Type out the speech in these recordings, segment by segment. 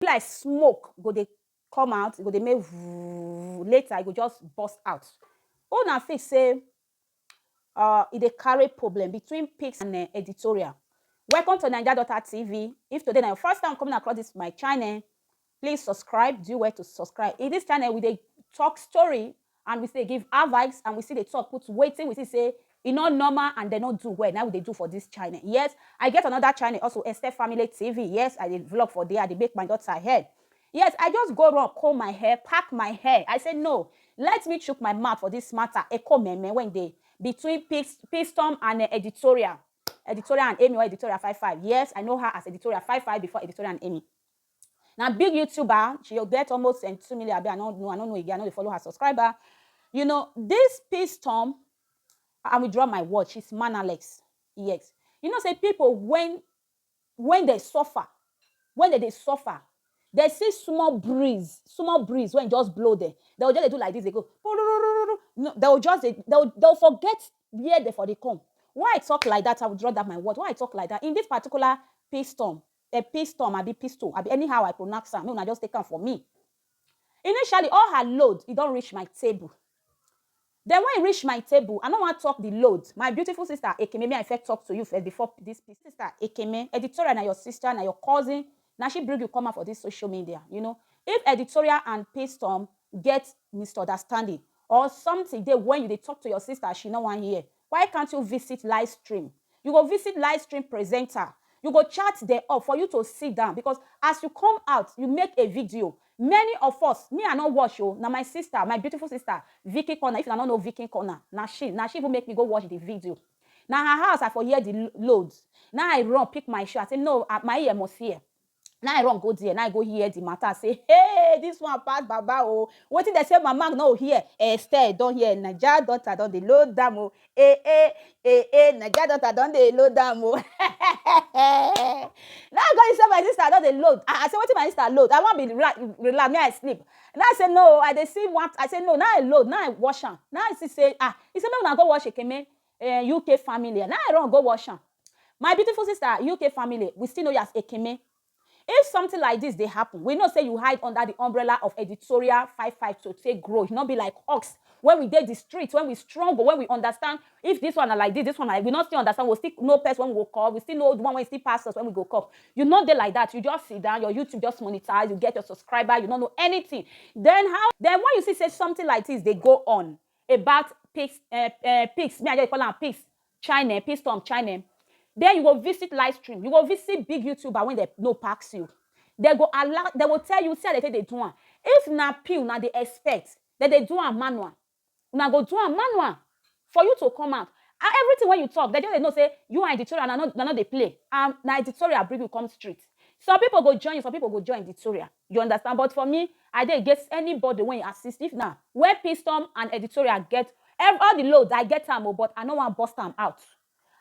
be like smoke go dey come out e go dey make vuuuuuuu later e go just burst out who una think say um e dey carry problem between pics and editorial welcome to naija daughter TV if today na your first time coming across this my channel please subscribe do well to subscribe in this channel we dey talk story and we still dey give advice and we still dey talk put wetin we see say e no normal and dem no do well na im we dey do for this channel yes I get another channel also Esther family TV yes I dey vlog for there I dey make my daughter hair yes I just go run comb my hair pack my hair I say no let me chook my mouth for this matter eko meme wey dey between pis pistom and eh editorial editorial and Amy or editorial five five yes I know her as editorial five five before editorial and Amy. Na big youtuber, she get almost um two million abi I no know, I no know again, I no dey follow her subscriber. You know this Pstorm I will drop my word, she's mannerless, yes. You know say people when when dem suffer, when dem dey suffer, dem see small breeze, small breeze wey just blow dem, dem go just dey do like this dey go pururururu, dem go just dey, dem go forget where dem for dey come. Why I talk like that, I will drop that my word, why I talk like that in this particular Pstorm, Dem pistom abi pistol abi anyhow I pronax am make una just take am for me. Initially all her load e don rish my table. Den wen e rish my table I no wan tok di load my beautiful sister Ekeme me I first tok to you first before dis pistol. Sister Ekeme editorial na your sister na your cousin na she brig you come out for dis social media you know if editorial and pistom get misunderstanding or something dey wen you dey tok to your sister she no wan hear Why can't you visit live stream you go visit live stream presenter you go chat dem up for you to sit down because as you come out you make a video many of us me I no watch o na my sister my beautiful sister Vicky Corner if una no know Vicky Corner na she na she even make me go watch the video na her house I for hear the load na I run pick my shoe I say no my ear must hear na i run go there na i go hear the matter say hey this one pass baba o oh. wetin dem say mama no hear esther don hear naija daughter don dey load am o oh. eh eh eh eh naija daughter don dey load am o oh. na i go hear say my sister don dey load ah i say wetin my sister load i wan be relax me i sleep na i say no i dey see one i say no na i load na i wash am na i see say ah he say make una go wash ekeme um UK family na I run go wash am my beautiful sister UK family we still know you as Ekeme if something like this dey happen we know say you hide under the umbrella of editorial five five to take grow you no be like us when we dey the street when we struggle when we understand if this one na like this this one na like we no still understand we still know person when we go call we still know the one wey still pass us when we go call you no dey like that you just sit down your YouTube just monetize you get your subscriber you no know anything then how then when you see say something like this dey go on about pics eh eh pics me i just dey call am pics china pistom china then you go visit live stream you go visit big youtuber wey dem no pass you dem go allow dem go tell you see how dem take dey do am if na pee una dey expect dem dey do am manual una go do am manual for you to come out and everything wey you talk dem just dey know say you and editorial una no una no dey play and na editorial bring you come street some people go join you some people go join editorial You understand but for me I dey against anybody wey assist if na when pistom and editorial get ev all the load I get am o but I no wan burst am out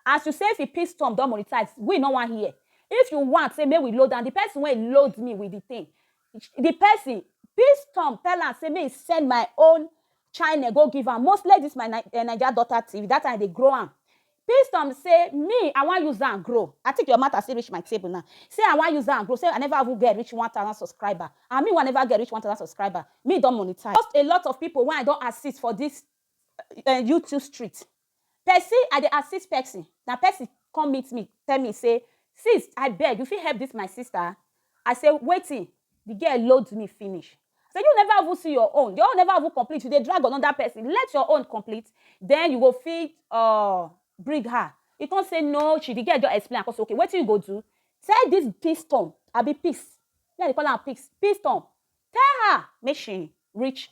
as you say fi pistom don monetize we no wan hear if you want say make we load am the person wey load me with the thing the person pistom tell am say make he send my own chine go give am mostly this my naija daughter tv that time I dey grow am Pee some say me I wan use am grow. I think your matter still reach my table now. Say I wan use am grow, say I never even get reach one thousand subscriber and me wey I never get reach one thousand subscriber, me don monetize. Most a lot of people wey I don assist for this um YouTube street, person I dey assist person, na person come meet me tell me say, Sis, I beg you fit help this my sister? I say wetin? The girl load me finish. I say you never even see your own, your own never even complete, you dey drag another person, let your own complete then you go fit um bring her. He come say no she, the girl just explain, I come say okay wetin you go do? Tell this piston abi piss, me I dey call am piss, piston, tell her make she reach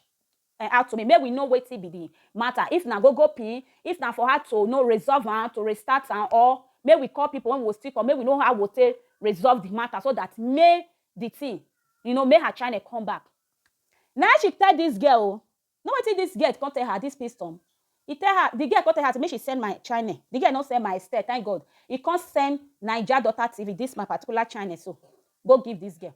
Ehn out to me make we know wetin be the matter if na go go pin if na for how to know resolve am to restart am or make we call people when we go still call make we know how we go take resolve the matter so that make the thing you know make her channel come back na him she tell this girl o know wetin this girl come tell her this pistom he tell her the girl come tell her say make she send my channel the girl no send my Esther thank God he come send naija daughter TV this my particular channel so go give this girl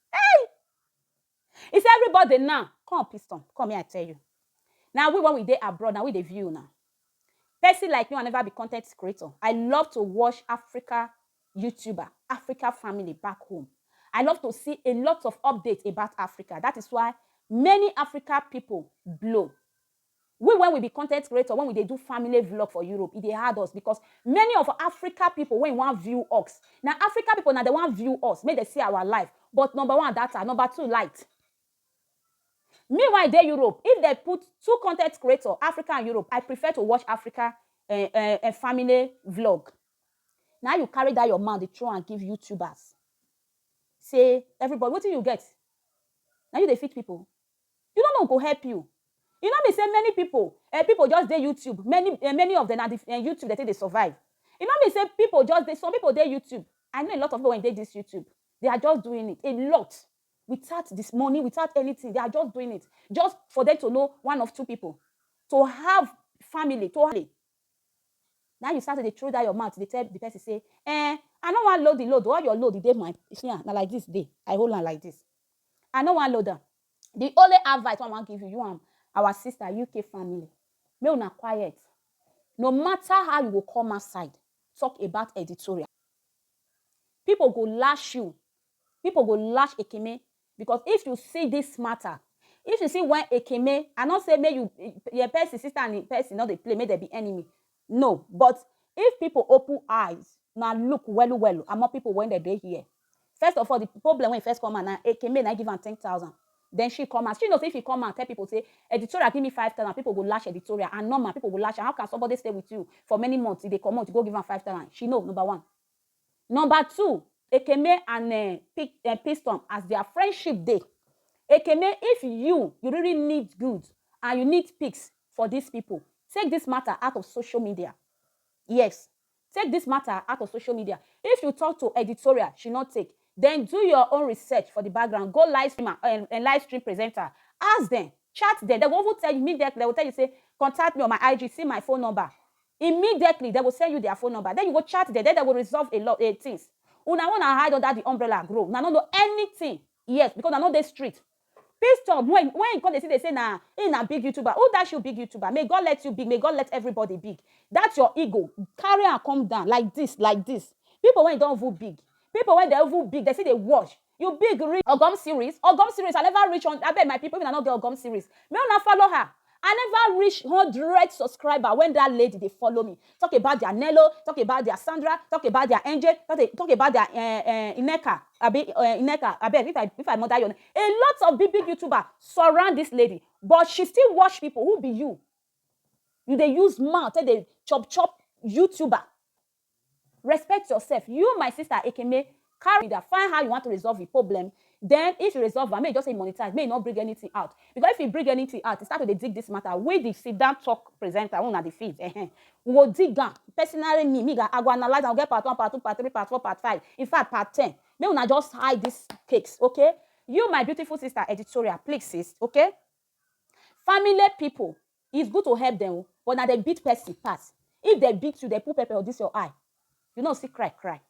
Hey! If everybody now, come piston, come here I tell you. Now we when we dey abroad, now we dey view now. Person like me, I never be content creator. I love to watch Africa YouTuber, Africa family back home. I love to see a lot of updates about Africa. That is why many Africa people blow. We wen we be content creator wen we dey do family vlog for Europe e dey hard us because many of Africa people wen wan view ux na Africa people na dem wan view us make dem see our life but number one data number two light me wen I dey Europe if dem put two content creator Africa and Europe I prefer to watch Africa eh eh eh family vlog. Na you carry that your mouth dey throw am give YouTubers say everybody wetin you get na you dey feed people You no know go help you. E no be say many pipo eh pipo just dey YouTube many eh many of dem na di eh YouTube dem take dey survive. E no mean say pipo just dey some pipo dey YouTube I know a lot of pipo wey dey dis YouTube they are just doing it a lot without dis money without anything they are just doing it just for dem to know one of two pipo to have family to Na you start to dey throw that your mouth dey tell the person say eh I no wan load the load all your load e dey my see am na like this e dey I hold am like this I no wan load am the only advice wey I wan give you you and our sister UK family make una quiet no matter how you go come outside talk about editorial people go lash you people go lash Ekene Because if you see this matter, if you see when Ekeme, I not say make you your person sister and im person not dey play, make dem be enemy. No, but if people open eyes, na look welu welu among people when dem dey here. First of all, the problem when e first come out na Ekeme na im give am ten thousand. Then she come out. She know say if e come out tell people say editorial give me five thousand, people go lash editorial and normal people go lash am. How can somebody stay with you for many months, e dey comot, you go give am five thousand? She know, number one. Number two, Ekeme and um Piston as their friendship dey. Ekeme if you you really need good and you need pics for this people, take this matter out of social media, yes take this matter out of social media, if you talk to editorial she no take, then do your own research for the background, go live stream am um live stream presenter, ask them, chat them, dem go even tell you immediately dem go tell you say contact me on my IG, see my phone number. Immediately dem go send you their phone number then you go chat them then dem go resolve a lot a things una own na hide under the umbrella grow una no know anything yes because una no dey street Pistol when when he come dey see dey say na him na big youtuber who dash you big youtuber may God let you big may God let everybody big that your ego carry am come down like this like this people wey don even big people wey dem even big dem still dey watch You big reach ogom series ogom series I never reach hun abeg my people if una no get ogom series make una follow her I never reach hundred subscriber when that lady dey follow me talk about their nello talk about their Sandra talk about their Enge talk about their eh eh Nneka abi eh Nneka abeg if I if I mother your name a lot of big big youtuber surround this lady but she still watch people who be you you dey use mouth take dey chop chop youtuber. Respect yourself, you my sister Ekeme carry that find how you want to resolve the problem then if you resolve am make you just say you monetize make you not bring anything out because if you bring anything out you start to dey dig this matter we the sit down talk presenter wey una dey feed uh -huh. we go dig am personally me me i go analyze am we get part one part two part three part four part five in fact part ten make una just hide this cakes okay you my beautiful sister editorial please sis okay family people Is good to help dem o but na dem beat person pass if dem beat you dem put pepper for this your eye you no see cry cry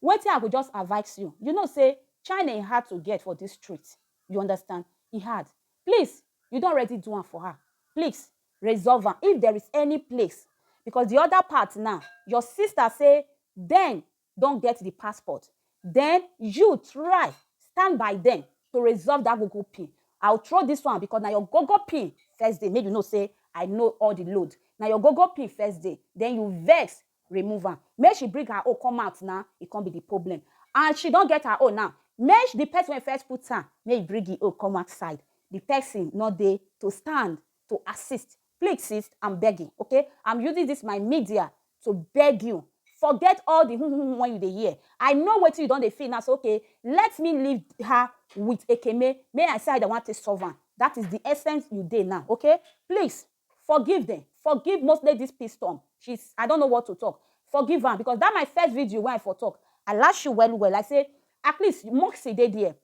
wetin I go just advice you you know say China e hard to get for this street you understand e hard please you don already do am for her please resolve am if there is any place because the other part now your sister say then don get di passport den you try stand by dem to resolve dat go go pin I will throw dis one because na your go go pin first day make you know say I know all di load na your go go pin first day den you vex remove am make she bring her own come out na e come be di problem and she don get her own now make di person wey first put am make e bring e own come outside di person no dey to stand to assist Please sis am begging okay am using this my media to beg you forget all the hum hum when you dey hear I know wetin you don dey feel now so okay let me leave her with Ekeme may I say I want to solve am that is the essence you dey now okay please forgive them forgive mostly this peace storm she's I don't know what to talk forgive am because that my first video wey I for talk I lash you well well I say at least Moxie dey there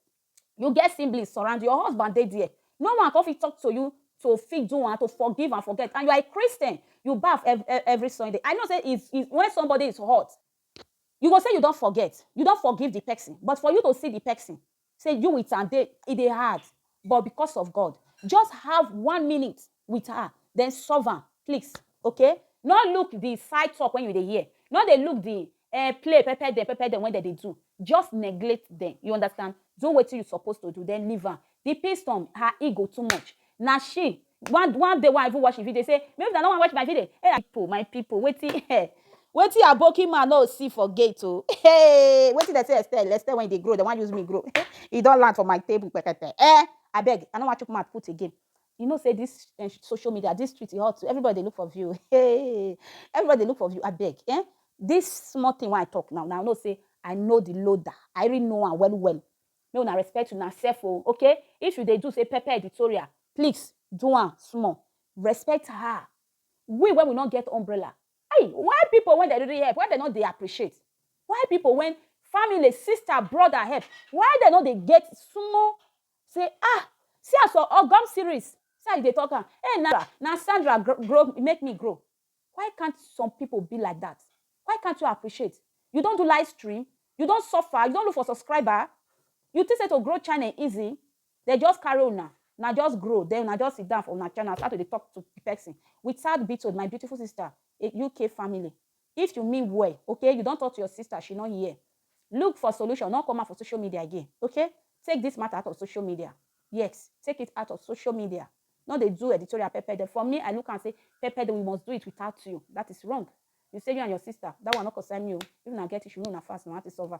You get siblings surround you, your husband dey there. No one come fit talk to you to fit do and to forgive and forget. And you are a Christian, you baff every Sunday. I know say if, if when somebody is hurt, you go say you don't forget, you don't forgive the person. But for you to see the person, say you with and they, it they hard. But because of God, just have one minute with her then solve am please okay no look the side talk when you dey hear no dey look the eh, play pepper dem pepper dem when dem dey do just neglect dem you understand do wetin you suppose to do then leave am the piston her ego too much na she one one day one even watch the video say maybe na no wan watch my video hey people my people wetin eh wetin aboki man no see for gate o oh. hey wetin dem say estelle estelle when e dey grow dem wan use me grow e don land for my table pepper eh abeg i no wan chook mouth put again you know say this eh, social media this street e hot too everybody dey look for view hey everybody dey look for view abeg eh this small thing wey i talk now now i know say i know the loader i really know am well well make una respect una sef o okay if you dey do say pepper editorial please do am small respect her we when we no get umbrella hey why people when they really help why they no dey appreciate why people when family sister brother help why they no dey get small Say ah see as ur ogom series see as u dey talk am hey na na Sandra grow make me grow why can't some people be like that why can't u appreciate u don do live stream u don suffer u don look for subscriber u think say to grow channel easy dem just carry una una just grow then una just sit down for una channel start to dey talk to person without beating my beautiful sister UK family If you mean well okay you don talk to your sister she no hear look for solution no come out for social media again okay take this matter out of social media yes take it out of social media no dey do editorial pepede for me I look am say pepede we must do it without you that is wrong you say you and your sister that one no concern me o if una get issue make una fast una want to solve am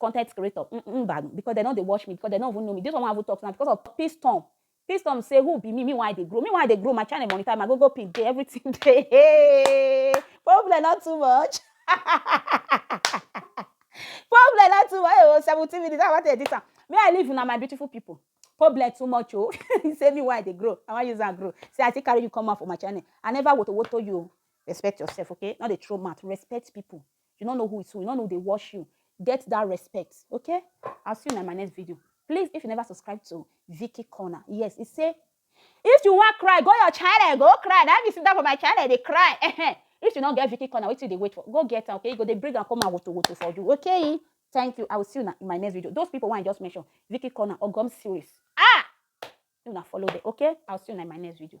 content creator mm, mm, mba because dem no dey watch me because dem no even know me this one wey i even talk now because of piston piston say who be me me why i dey grow me why i dey grow my channel monitor my google pin dey everything dey hey, problem not too much problem not too much oh seventeen minutes i wan take this am may i leave una my beautiful people problem too much oh you say me why i dey grow i wan use am grow say i still carry you come out for my channel i never wotowoto you respect yourself okay no dey throw mouth respect people You no know who is who, you no know who dey watch you. Get that respect, okay? I'll see you in my next video. Please, if you never subscribe to Vicky Corner, yes, it say, if you want cry, go your channel, go cry. Now you sit down for my channel, they cry. if you don't get Vicky Corner, wait till they wait for. Go get her, okay? You go, they bring and come and woto woto for you, okay? Thank you. I will see you in my next video. Those people want I just mention, Vicky Corner or Gum Series. Ah! You not follow them, okay? I'll see you in my next video.